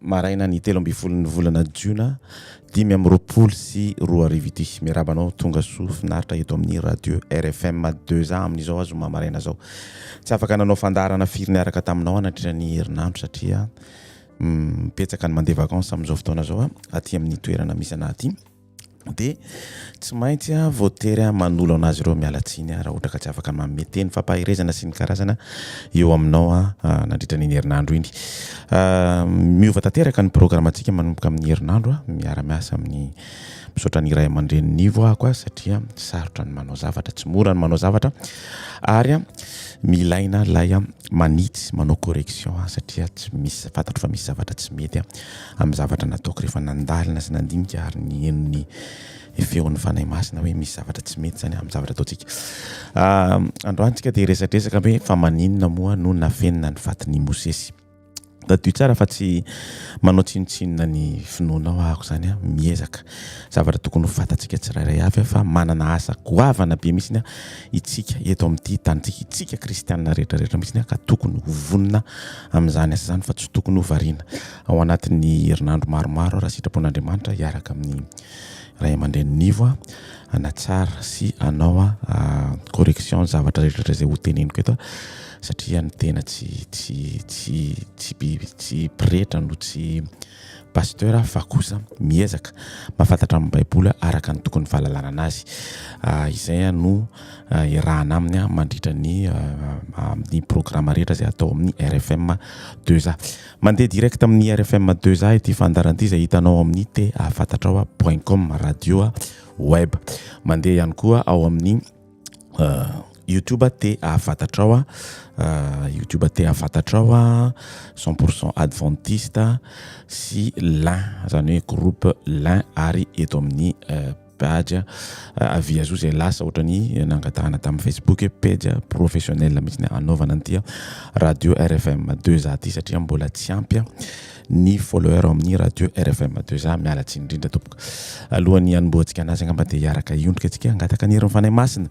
marainan'ny telo ambin'ny folon'ny volana jiona dimy amby roapolo sy roa arivo ity. Miarahaba anao tonga soa finaritra eto amin'ny radio RFM deux ans amin'izao azo mamaraina zao. Tsy afaka nanao fandaharana firy niaraka taminao anatretra ny herinandro satria mm, betsaka ny mandeha vacances amin'izao fotoana zao aty amin'ny toerana misy anah aty. dia tsy maintsy voatery manolo an'azy ireo miala tsiny raha ohatra ka tsy afaka manome teny fampaherezana sy ny karazana eo aminao nandritra an'iny herinandro iny. Miova tanteraka ny programantsika manomboka amin'ny herinandro, miara-miasa amin'ny misaotra ny ray aman-dreny Nivo aho koa satria sarotra ny manao zavatra, tsy mora ny manao zavatra ary milaina ilay manitsy, manao correction satria tsy misy, fantatro fa misy zavatra tsy mety. amin'ny zavatra nataoko rehefa nandalina sy nandinika ary niheno ny feon'ny Fanahy Masina hoe misy zavatra tsy mety izany amin'ny zavatra ataontsika. Androany tsika dia hiresadresaka hoe fa maninona moa no nafenina ny fatin'i Mosesy. Tadidio tsara fa tsy manao tsinontsinona ny finoanao ahako izany aho, miezaka. Zavatra tokony ho fantatsika tsirairay avy aho fa manana asa goavana be mihitsy aho itsika eto amin'ity tanintsika, itsika kristiana rehetra rehetra mihitsy aho ka tokony ho vonona amin'izany asa izany fa tsy tokony ho variana. ao anatin'ny herinandro maromaro raha sitrapon'Andriamanitra hiaraka amin'ny ray aman-dreny Nivo hanatsara sy hanao correction ny zavatra rehetra izay ho teneniko eto satria ny tena tsy tsy tsy tsy tsy pretra no tsy pasteur fa kosa miezaka mahafantatra amin'ny baiboly araka ny tokony fahalalana anazy ah, izay no ah, irahana aminy ah, mandritra ny amin'ny programme rehetra izay atao amin'ny RFM 2A Mandeha direct amin'ny rfm deux A ity fandaran'ity izay hitanao ao amin'ny te hahafantatra aho point com radio web. Mandeha ihany koa ao amin'ny youtube te hahafantatra aho youtube te hahafantatra aho cent pour cent adventiste sy lin izany hoe groupe lin ary eto amin'ny page avia zo zay lasa ohatrany nangatahana tamin'ny facebook hoe page professionnel mihitsy ny anaovana an'ity radio rfm deux za ty satria mbola tsy ampy ny follower ao amin'ny radio rfm deux za miala tsiny indrindra tompoko alohan'ny hanombohantsika anazy angamba dia hiaraka hiondrika antsika hangataka ny herin'ny fanahy masina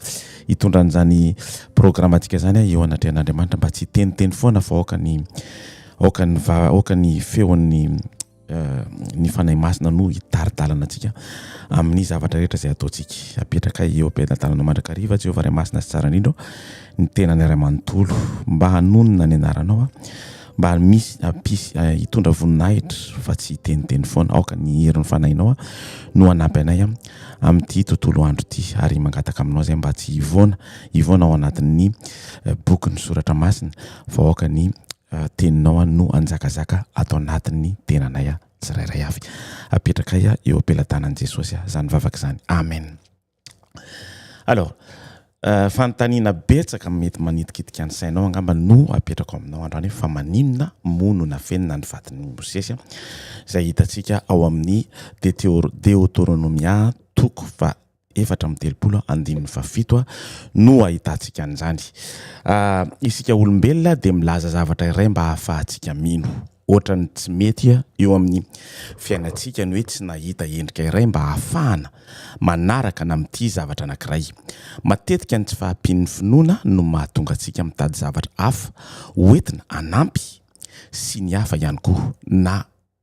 hitondra an'izany programme antsika izany eo anatrehan'andriamanitra mba tsy hiteniteny foana fa aoka ny aoka ny va aoka ny feon'ny ny Fanahy Masina no hitari-dalana antsika amin'ny zavatra rehetra izay ataontsika. Apetraka eo am-pelatanana mandrakariva Jehovah Ray Masina sy Tsara Indrindra ny tenany iray manontolo mba hanonona ny anaranao aho, mba misy hampisy hitondra voninahitra fa tsy hiteniteny foana. Aoka ny herin'ny Fanahinao no hanampy anay amin'ity tontolo andro ity ary mangataka aminao izay mba tsy hivoana, hivoana ao anatin'ny bokin'ny soratra masina fa aoka ny Raha teninao any no hanjakazaka ato anatin'ny tenanay aho tsirairay avy. Apetrakay aho eo am-pelatanan'i Jesosy aho. Izany vavaka izany. Amen. Alors, fanontaniana betsaka mety manitikitika ny sainao angamba no apetrako aminao androany hoe, fa maninona moa no nafenina ny vadin'i Mosesy? Izay hitantsika ao amin'ny Deteôrônomia toko faha efatra amby telopolo andininy fahafito no ahitantsika an'izany. Isika olombelona dia milaza zavatra iray mba hahafahantsika mino. Ohatran'ny tsy mety eo amin'ny fiainantsika ny hoe tsy nahita endrika iray mba hahafahana manaraka na mitia zavatra anankiray. Matetika ny tsy fahampian'ny finoana no mahatonga antsika mitady zavatra hafa hoentina hanampy, sy ny hafa ihany koa, na.